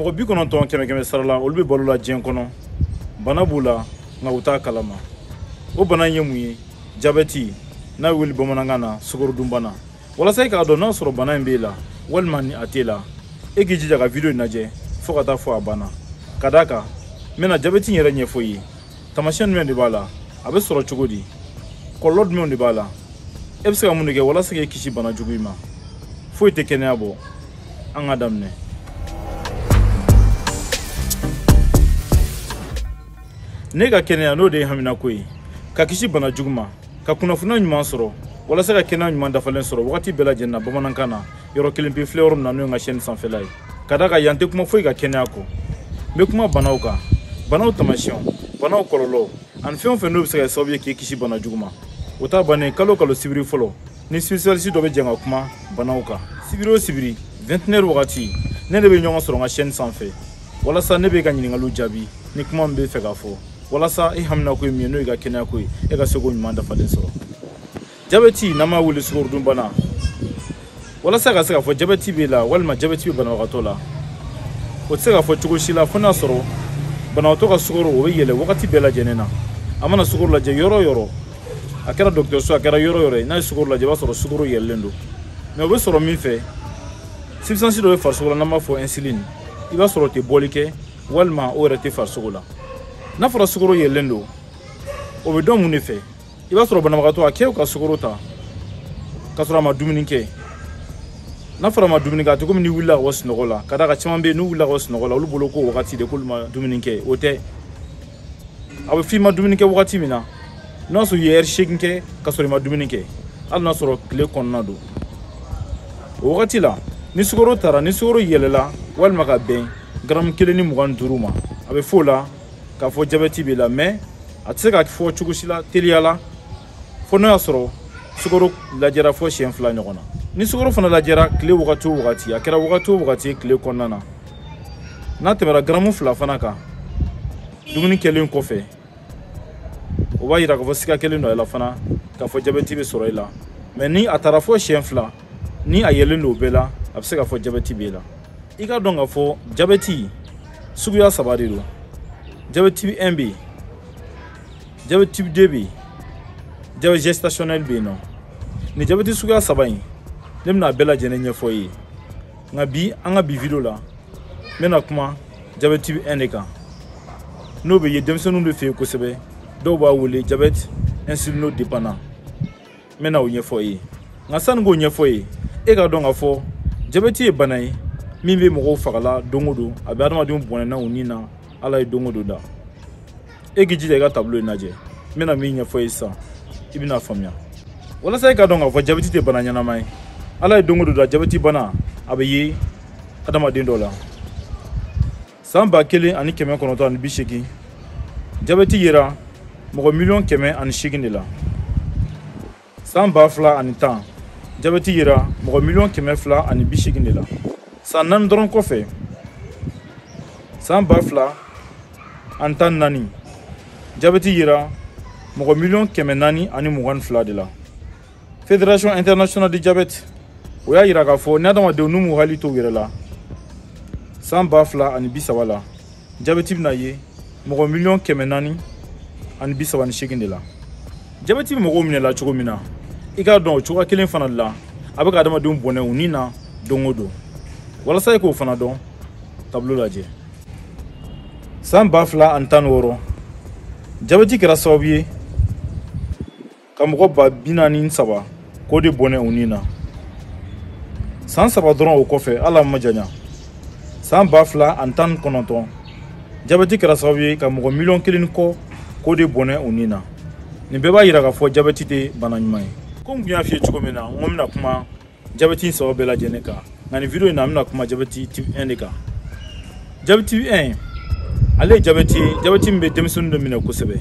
mɔgɔ bi kɔnɔntɔn kɛmɛ kɛmɛ sara la olu bɛ balo la diɲɛ kɔnɔ bana b'u la nka u t'a kalama o bana in ye mun ye jabɛti n'a bɛ wele bamanankan na sukorodunbana walasa i k'a dɔn n'a sɔrɔ bana in b'e la walima ni a t'e la e k'i jija ka video in lajɛ fɔɔ ka taa fɔ a banna ka d'a kan n bɛna jabɛti in yɛrɛ ɲɛfɔ i ye taamasiyɛn jumɛn de b'a la a bɛ sɔrɔ cogo di kɔlɔlɔ jumɛnw de b'a la e bɛ se ka mun de kɛ walasa k'e kisi bana jugu in ma foyi tɛ kɛnɛya bɔ an ka daminɛ n'e ka kɛnɛya n'o de y'e haminako ye ka kisi bana jugu ma ka kunnafoniya ɲuman sɔrɔ walasa ka kɛnɛya ɲuman dafalen sɔrɔ wagati bɛɛ lajɛlen na bamanankan na yɔrɔ kelen pe filɛ yɔrɔ min na n'o ye n ka chaîne sanfɛla ye ka d'a kan yan tɛ kuma foyi kan kɛnɛya kɔ n bɛ kuma banaw kan banaw taamasiyɛnw banaw kɔlɔlɔw ani fɛn o fɛn n'o bɛ se ka kɛ sababu ye k'i kisi bana jugu ma o ta bannen kalo o kalo sibiri fɔlɔ ni spécialiste dɔ bɛ jɛn ka kuma banaw kan sibiri o sibiri 21h wagati ne n'e bɛ ɲɔgɔn sɔrɔ n ka chaîne sanfɛ walasa ne b'i ka ɲininkaliw jaabi ni kuma min b'e fɛ k'a fɔ walasa i haminako ye min ye n'o y'i ka kɛnɛyako ye e ka se k'o ɲuman dafalen sɔrɔ jabɛti n'an b'a wele sukorodunbana walasa ka se k'a fɔ jabɛti b'e la walima jabɛti bɛ banabagatɔ la o tɛ se ka fɔ cogo si la fo n'a sɔrɔ banabagatɔ ka sukoro o bɛ yɛlɛ wagati bɛɛ lajɛlen na a mana sukoro lajɛ yɔrɔ o yɔrɔ a kɛra dɔgɔtɔrɔso a kɛra yɔrɔ o yɔrɔ ye n'a ye sukoro lajɛ i b'a sɔrɔ sukoro yɛlɛlen don mais o bɛ sɔrɔ mun fɛ substance dɔ bɛ farisogo la n'an b'a fɔ insuline i b'a sɔrɔ o tɛ bɔli kɛ walima o yɛrɛ tɛ farisogo la n'a fɔra sukoro yɛlɛlen don o bɛ dɔn mun de fɛ i b'a sɔrɔ banabagatɔ a k'e ka sukoro ta k'a sɔrɔ a ma dumuni kɛ n'a fɔra a ma dumuni kɛ a tɛ komi n'i wulila ka bɔ sunɔgɔ la ka d'a kan caman bɛ yen n'u wulila ka bɔ sunɔgɔ la olu bolo k'o wagati de k'olu ma dumuni kɛ o tɛ a bɛ f'i ma dumuni kɛ wagati min na n'a sɔrɔ i ye heure seegin kɛ ka sɔrɔ i ma dumuni kɛ hali n'a sɔrɔ tile kɔnɔna don o wagati la ni sukoro tara ni sukoro yɛlɛla walima ka bɛn garamu kelen ni mugan ni duuru ma a bɛ f'o la k'a fɔ jabɛti b'i la mais a tɛ se ka fɔ cogo si la teliya la fo n'o y'a sɔrɔ sukoro lajɛra fɔ siɲɛ fila ɲɔgɔn na ni sukoro fana lajɛra tile wagati o wagati a kɛra wagati o wagati ye tile kɔnɔna na n'a tɛmɛra garamu fila fana kan dumuni kɛlen kɔfɛ o b'a yira k'a fɔ siga kɛlen don a la fana k'a fɔ jabɛti bɛ sɔrɔ i la mais ni a taara fɔ siɲɛ fila ni a yɛlɛlen don o bɛɛ la a bɛ se k'a fɔ jabɛti b'e la i k'a dɔn k'a fɔ jabɛti suguya saba de don jabɛti 1 bɛ yen jabɛti 2 bɛ yen jabɛti gestationnel bɛ yen nɔ nin jabɛti suguya saba in ne bɛna a bɛɛ lajɛlen ɲɛfɔ i ye nka bi an ka bi video la n bɛna kuma jabɛti type 1 de kan n'o bɛ ye denmisɛnninw de fɛ yen kosɛbɛ dɔw b'a wele jabɛti insulinodépendant n bɛna o ɲɛfɔ i ye nka sani k'o ɲɛfɔ i ye e k'a dɔn k'a fɔ jabɛti ye bana ye min bɛ mɔgɔw fagala don o don a bɛ adamadenw bɔnɛna u ni na ala ye don o don da e k'i jija i ka tablo in lajɛ n bɛna min ɲɛfɔ i ye sisan i bɛn'a faamuya walasa i k'a dɔn k'a fɔ jabɛti tɛ bana ɲɛnama ye ala ye don o don da jabɛti bana a bɛ ye adamaden dɔ la san ba kelen ani kɛmɛ kɔnɔntɔn ani bi seegin jabɛti yera mɔgɔ miliyɔn kɛmɛ ani seegin de la san ba fila ani tan jabɛti yera mɔgɔ miliyɔn kɛmɛ fila ani bi seegin de la san naani dɔrɔn kɔfɛ san ba fila ani tan ni naani jabɛti yera mɔgɔ miliyɔn kɛmɛ naani ani mugan ni fila de la fédération internationale de diabète o y'a yira k'a fɔ ni adamadenw n'u m'u hakili to u yɛrɛ la san ba fila ani bi saba la jabɛti bɛna ye mɔgɔ miliyɔn kɛmɛ naani ani bi saba ni seegin de la jabɛti bɛ mɔgɔw minɛ la cogo min na i k'a dɔn o cogoya kelen fana de la a bɛ ka adamadenw bɔnɛ u ni na don o don walasa i k'o fana dɔn tablo lajɛ san ba fila ani tan ni wɔɔrɔ jabɛti kɛra sababu ye ka mɔgɔ ba bi naani ni saba k'o de bɔnɛ u ni na san saba dɔrɔn o kɔfɛ hali a ma janya san ba fila ani tan ni kɔnɔntɔn jabɛti kɛra sababu ye ka mɔgɔ miliyɔn kelen kɔ k'o de bɔnɛ u ni na nin bɛɛ b'a yira k'a fɔ jabɛti tɛ bana ɲuman ye komi n tun y'a f'i ye cogo min na n ko n bɛna kuma jabɛti in saba bɛɛ lajɛlen kan nka nin video in na n bɛna kuma jabɛti type 1 de kan jabɛti type 1 ale ye jabɛti ye jabɛti min bɛ denmisɛnninw de minɛ kosɛbɛ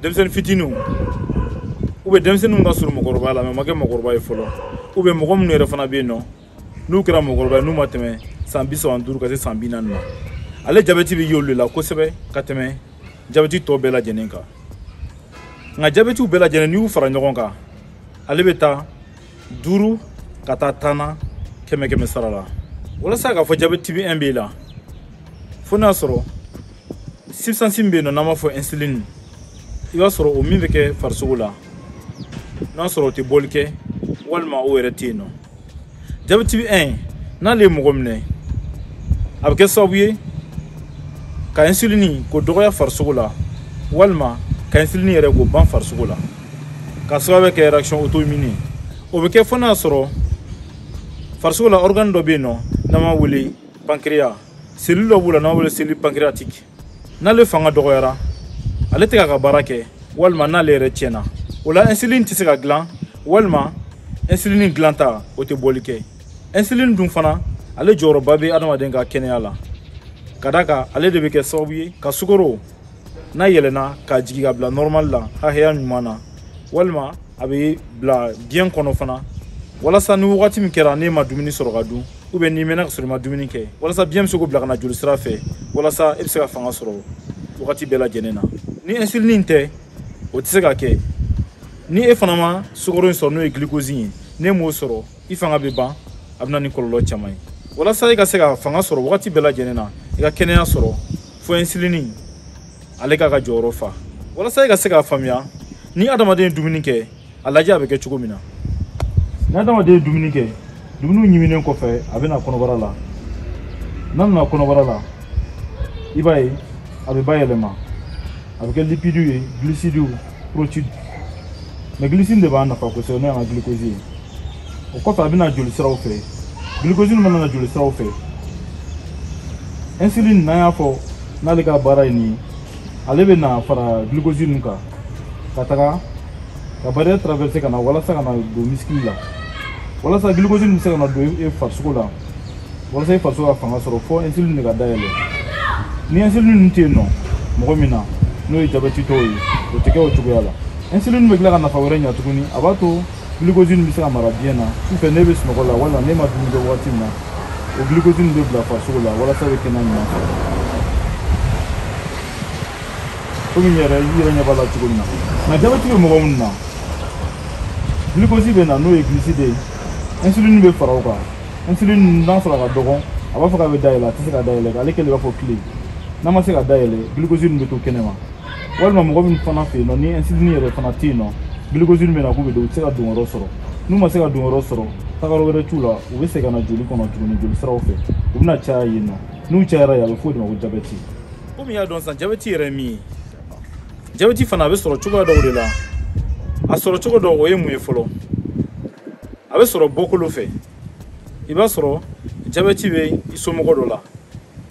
denmisɛnnin fitininw ou bien denmisɛnninw ka surun mɔgɔkɔrɔba la mais ma kɛ mɔgɔkɔrɔba ye fɔlɔ ou bien mɔgɔ minnu yɛrɛ fana bɛ yen nɔ n'u kɛra mɔgɔkɔrɔba ye n'u ma tɛmɛ san bi saba ni duuru ka se san bi naani ma ale jabɛti bɛ y'olu de la kosɛbɛ ka tɛmɛ jabɛti tɔ bɛɛ lajɛlen kan nka jabɛtiw bɛɛ lajɛlen n'i y'u fara ɲɔgɔn kan ale bɛ taa duuru ka taa tan na kɛmɛ kɛmɛ sara la walasa k'a fɔ jabɛti type 1 b'i la fo n'a sɔrɔ substance min bɛ yen nɔ n'an b'a fɔ insuline i b'a sɔrɔ o min bɛ kɛ farisogo la n'a sɔrɔ o tɛ bɔli kɛ walima o yɛrɛ tɛ yen nɔ jabɛti type 1 n'ale ye mɔgɔ minɛ a bɛ kɛ sababu ye ka insuline k'o dɔgɔya farisogo la walima ka insuline yɛrɛ k'o ban farisogo la k'a sababu kɛ réaction auto-immune ye o bɛ kɛ fo n'a sɔrɔ farisogo la organe dɔ bɛ yen nɔ n'an b'a wele pancréas cellule dɔ b'u la n'an b'a wele cellule pancréatique n'ale fanga dɔgɔyara ale tɛ k'a ka baara kɛ walima n'ale yɛrɛ tiɲɛna o la insuline tɛ se ka dilan walima insuline dilanta o tɛ bɔli kɛ insuline dun fana ale jɔyɔrɔba bɛ adamaden ka kɛnɛya la ka d'a kan ale de bɛ kɛ sababu ye ka sukoro n'a yɛlɛna k'a jigi ka bila normal la hakɛya ɲuman na walima a bɛ bila biɲɛ kɔnɔ fana walasa ni wagati min kɛra n'e ma dumuni sɔrɔ ka dun ou bien n'i mɛnna ka sɔrɔ i ma dumuni kɛ walasa biɲɛ bɛ se k'o bila ka na joli sira fɛ walasa e bɛ se ka fanga sɔrɔ wagati bɛɛ lajɛlen na ni insuline in tɛ o tɛ se ka kɛ ni e fana ma sukoro in sɔrɔ n'o ye glucose ye n'e m'o sɔrɔ i fanga bɛ ban a bɛ na ni kɔlɔlɔ caman ye walasa i ka se ka fanga sɔrɔ wagati bɛɛ lajɛlen na i ka kɛnɛya sɔrɔ fo insuline ale k'a ka jɔyɔrɔ fa walasa i ka se k'a faamuya ni adamaden ye dumuni kɛ a lajɛ a bɛ kɛ cogo min na ni adamaden ye dumuni kɛ dumuniw ɲiminen kɔfɛ a bɛ na kɔnɔbara la n'a nana kɔnɔbara la i b'a ye a bɛ bayɛlɛma a bɛ kɛ lipidiw ye gilisidiw protide mais gilisidi de b'an nafa kosɛbɛ n'o y'an ka gilikozi ye o kɔfɛ a bɛ na joli siraw fɛ glucose nin mana na joli siraw fɛ insuline n'an y'a fɔ n'ale ka baara ye nin ye ale bɛ na fara glucose nin kan ka taga ka barrière traverser ka na walasa ka na don misikili la walasa glucose nin bɛ se ka na don e farisogo la walasa e farisogo ka fanga sɔrɔ fo insuline de ka da yɛlɛ ni insuline nin tɛ yen nɔ mɔgɔ min na n'o ye jabɛtitɔw ye o tɛ kɛ o cogoya la insuline bɛ tila ka nafa wɛrɛ ɲa tuguni a b'a to glucose nin bɛ se ka mara biɲɛ na sufɛ ne bɛ sunɔgɔ la walima ne ma dumuni kɛ wagati min na o glucose nin bɛ bila farisogo la walasa i bɛ kɛnɛya ɲuman sɔrɔ komi i yɛrɛ i yɛrɛ ɲɛ b'a la cogo min na nka jabɛti bɛ mɔgɔ minnu na glucose bɛ na n'o ye glucide ye insuline bɛ fara o kan insuline n'a sɔrɔ a ka dɔgɔn a b'a fɔ k'a bɛ da yɛlɛ a tɛ se ka da yɛlɛ ale kɛlen b'a fɔ kile n'a ma se ka da yɛlɛ glucose ninnu bɛ to kɛnɛma walima mɔgɔ min fana fɛ yen nɔ ni insuline yɛrɛ fana tɛ yen nɔ glucose nin bɛ na k'u bɛ don u tɛ se ka don yɔrɔ sɔrɔ n'u ma se ka don yɔrɔ sɔrɔ tagayɔrɔ wɛrɛ t'u la u bɛ segin ka na joli kɔnɔ tuguni joli siraw fɛ u bɛna caya yen nɔ n'u cayara yen a bɛ fɔ o de ma ko jabɛti komi i y'a dɔn sisan jabɛti yɛrɛ ye min ye jabɛti fana a bɛ sɔrɔ cogoya dɔw de la a sɔrɔ cogo dɔ o ye mun ye fɔlɔ a bɛ sɔrɔ bɔkolo fɛ i b'a sɔrɔ jabɛti bɛ i somɔgɔ dɔ la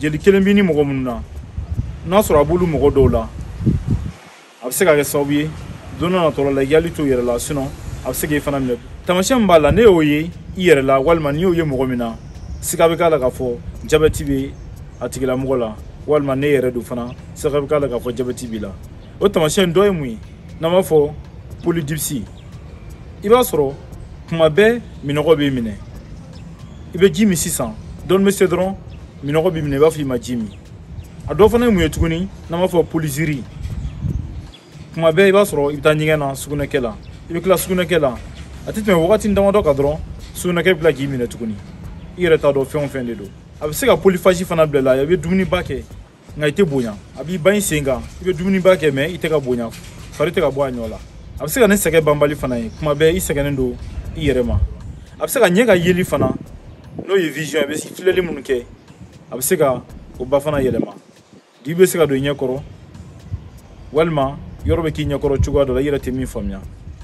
jeli kelen b'i ni mɔgɔ minnu na n'a sɔrɔ a b'olu mɔgɔ dɔw la a bɛ se ka kɛ sababu ye don dɔ natɔ la i hakili to i yɛrɛ la sinɔn a bɛ se k'i fana minɛ taamasiyɛn min b'a la n'e y'o ye i yɛrɛ la walima n'i y'o ye mɔgɔ min na siga bɛ k'a la k'a fɔ jabɛti bɛ a tigilamɔgɔ la walima n'e yɛrɛ don fana siga bɛ k'a la k'a fɔ jabɛti b'i la o taamasiyɛn dɔ ye mun ye n'an b'a fɔ polydipsie i b'a sɔrɔ kuma bɛɛ minɔgɔ b'i minɛ i bɛ ji min sisan dɔɔni bɛ se dɔrɔn minɔgɔ b'i minɛ i b'a fɔ i ma ji min a dɔ fana ye mun ye tuguni n'an b'a fɔ polyurie kuma bɛɛ i b'a sɔrɔ i bɛ taa ɲɛgɛn na sugunɛkɛ la i bɛ tila sugunɛkɛ la a tɛ tɛmɛ wagati damadɔ kan dɔrɔn sugunɛkɛ bɛ tila k'i minɛ tuguni i yɛrɛ t'a dɔn fɛn o fɛn de don a bɛ se ka polyphagie fana bila i la i bɛ dumuniba kɛ nka i tɛ bonya a b'i ban i sen kan i bɛ dumuniba kɛ mais i tɛ ka bonya fari tɛ ka bɔ a ɲɔ la a bɛ se ka ni sɛgɛn banbali fana ye kuma bɛɛ i sɛgɛnnen don i yɛrɛ ma a bɛ se ka ɲɛ ka yeli fana n'o ye vision ye a bɛ filɛli minnu kɛ a bɛ se ka o ba fana yɛlɛma dibi bɛ se ka don i ɲɛ kɔrɔ walima yɔrɔ bɛ k'i ɲɛ kɔrɔ cogoya dɔ la i yɛrɛ tɛ min faamuya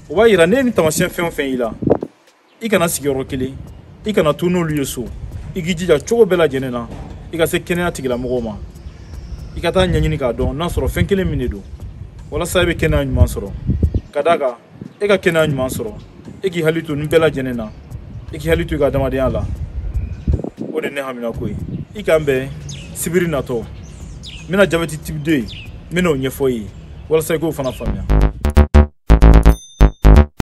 o b'a yira n'e ye nin taamasiyɛn fɛn o fɛn y'i la i kana sigi yɔrɔ kelen i kana to n'olu ye so i k'i jija cogo bɛɛ lajɛlen na i ka se kɛnɛya tigilamɔgɔw ma i ka taa ɲɛɲini k'a dɔn n'a sɔrɔ fɛn kelen min de don walasa i bɛ kɛnɛya ɲuman sɔrɔ ka d'a kan e ka kɛnɛya ɲuman sɔrɔ e k'i hakili to nin bɛɛ lajɛlen na i k'i hakili to i ka adamadenya la o de ne haminanko ye i k'an bɛn sibiri natɔ n bɛna jabɛti type 2 n bɛn'o ɲɛfɔ i ye walasa i k'o fana faamuya